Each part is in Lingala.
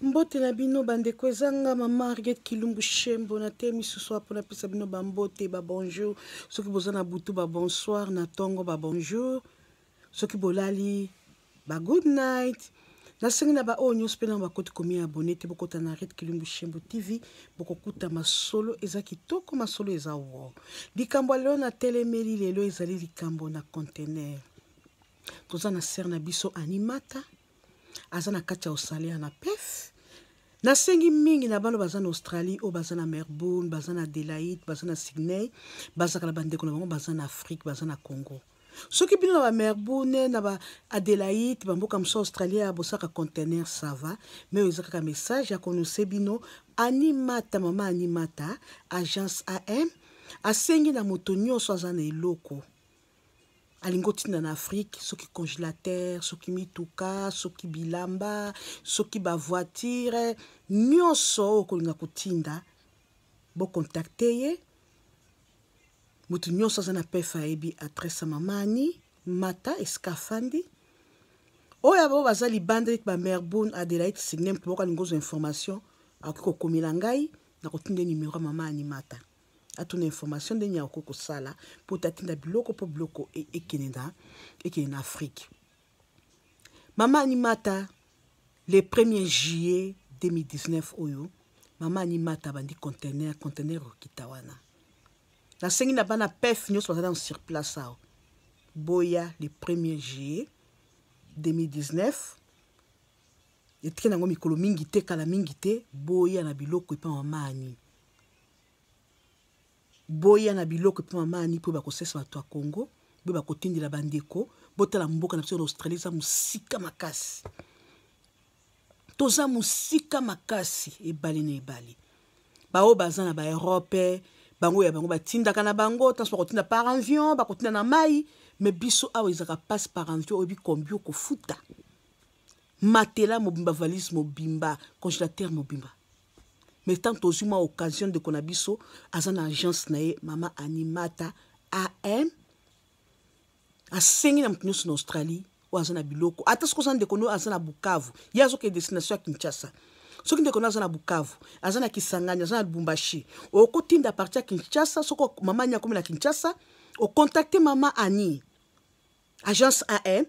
mbote na bino bandeko eza nga ma marget kilumbu shembo na te misusu apo napesa bino bambote babonjour soki boza na butu babonsoir na ntongo babonjour soki bolali ba good night nasengi na baoyo nyonso mpe nano bakoti komi abone te bokota na ret kilumbu shembo tv bokokuta masolo eza kitoko masolo eza wo likambo ya lelo natelemeli lelo ezali likambo na contener toza na sere na biso animata aza na kati ya australia na pef nasengi mingi na bana baza na australie oyo baza na melbourne baza na adelaide baza na sydney bazalaka na bandeko na bango baza na afrique baza na congo soki bino na bamelbourne na baadelaide bamboka mosusu australie ya bosaka contener sava me oyo eza kaka message ya konose bino animata mama animata agence am asengi na moto nyonso aza na eloko alingi otinda na afrique soki congélateur soki mituka soki bilamba soki bavoitire nyonso oyo okolinga kotinda bokontakte ye moto nyonso aza na pef ayebi adresse ya mamani mata esika afandi oyo abo baza libanda neti bamerbone adelaide signe mpo boko alingi ozwa information akoki kokomela ngai nakotinda ye numero ya mama animata atuna information ndenge ya okoki kosala mpo tatinda biloko mpo biloko e, ekende na ekende na afrike mama animata le 1er juillet 2019 oyo mama animata abandi contener contener okita wana nasengi na bana pef nyonso bazali na sur place awa boya le 1er juillet 2019 etike nango mikolo mingi te kala mingi te boya na biloko epa mama ani Boya na biloko epa mama Annie po bakosesa bato ya Congo, boye bakotindela bandeko, botala mboka na biso na Australie eza mosika makasi. Toza mosika makasi ebale na ebale. Baoyo baza na ba Europe, bango ya bango batindaka na bango, tanso bakotinda par avion, bakotinda na mai, me biso awa ezalaka passe par avion oyebi kombi okofuta. Matela mobimba, valise mobimba, congélateur mobimba. mais tant tozwi mwa occasion ndeko na biso aza na agence na ye mama animata am asengi na moto nyonso na australie oyo aza na biloko ata soki oza ndeko no aza na bukavu ye azokende destination ya kinshasa soki ndeko no aza na bukavu aza na kisangani aza na lubumbashi okotinda parti ya kinshasa soki mama ani akomi na kinshasa okontakte mama ani agence an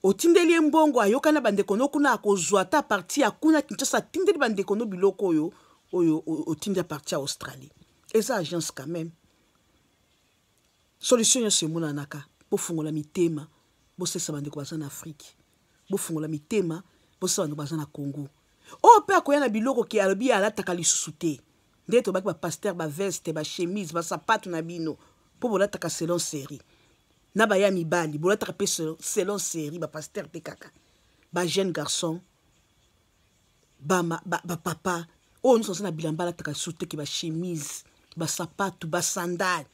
otindeli ye mbongo ayoka na bandeko no kuna akozwa ata parti ya kuna kinshasa atindeli bandeko no biloko oyo oyo otindi ya parti ya australie eza agence quand même solution nyonso emonanaka bofungola mitema bosalisa bandeko baza na afrike bofungola mitema bosalisa bandeko baza na congo oyo mpe akoya na biloko ke alobi ye alataka lisusu te nde tobaki bapaster baveste bachemise basapato na bino mpo bolataka selon serie na baya mibali bolataka mpe selon série bapaster mpe kaka bajeune garçon bapapa ba, ba, ba oyo nyonso aza na bilamba alataka lisusu teke bachemise basapatu basandale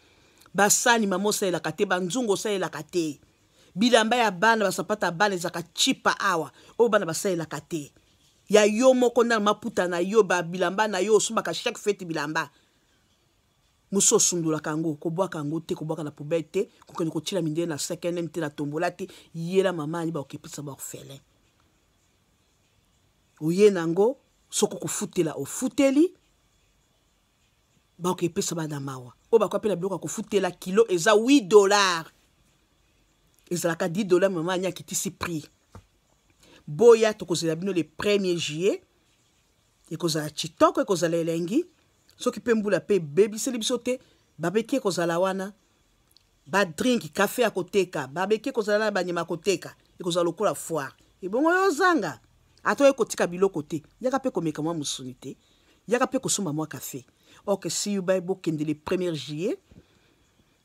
basani mama osalelaka te banzungu osalelaka te bilamba ya bana basapatu ya bana ezalaka chipa awa oyo bana basalelaka te ya yo moko ndana maputa na yo babilamba na yo osombaka chaque fete bilamba mosusu osundolaka yango kobwaka yango te kobwaka na poubelle te kokende kotyela mindele na cnm te na tombola te yela mama ayeba okepesa baorphelin oye na yango soki okofutela ofuteli baoka epesa bana mawa oyo bakoya mpe na biloko ya kofutela kilo eza 8 dollar ezalaka 10 dollar mama ani akitisi prix boya tokozela bino le 1er juillet ekozala kitoko ekozala elengi soki mpe mbula mpe ebebiseli biso te babeki ekozala wana badrinki kafe ya koteka babeki ekozala na banyama ya koteka ekozala lokola foire ebongo yo ozanga ata oye kotika biloko te yaka mpe komeka mwa mosuni te yaka mpe kosomba mwa kafe ok see you bye bokende le premier juillet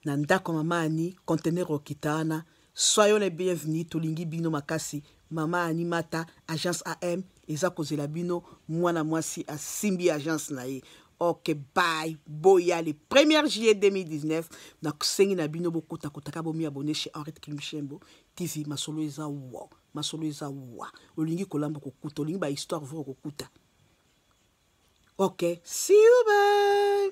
na ndako ya mama ani conteneur okita wana soyo le bienvenu tolingi bino makasi mama ani mata agence am eza kozela bino mwana mwasi asimbi agence na ye ok bye boya le 1er juillet 2019 nasengi na bino bokotakotaka bomi abone chez henriette kilmshembo tv masolo eza wa masolo eza wa olingi kolamba kokuta olingi bahistoire vre okokuta ok see you bye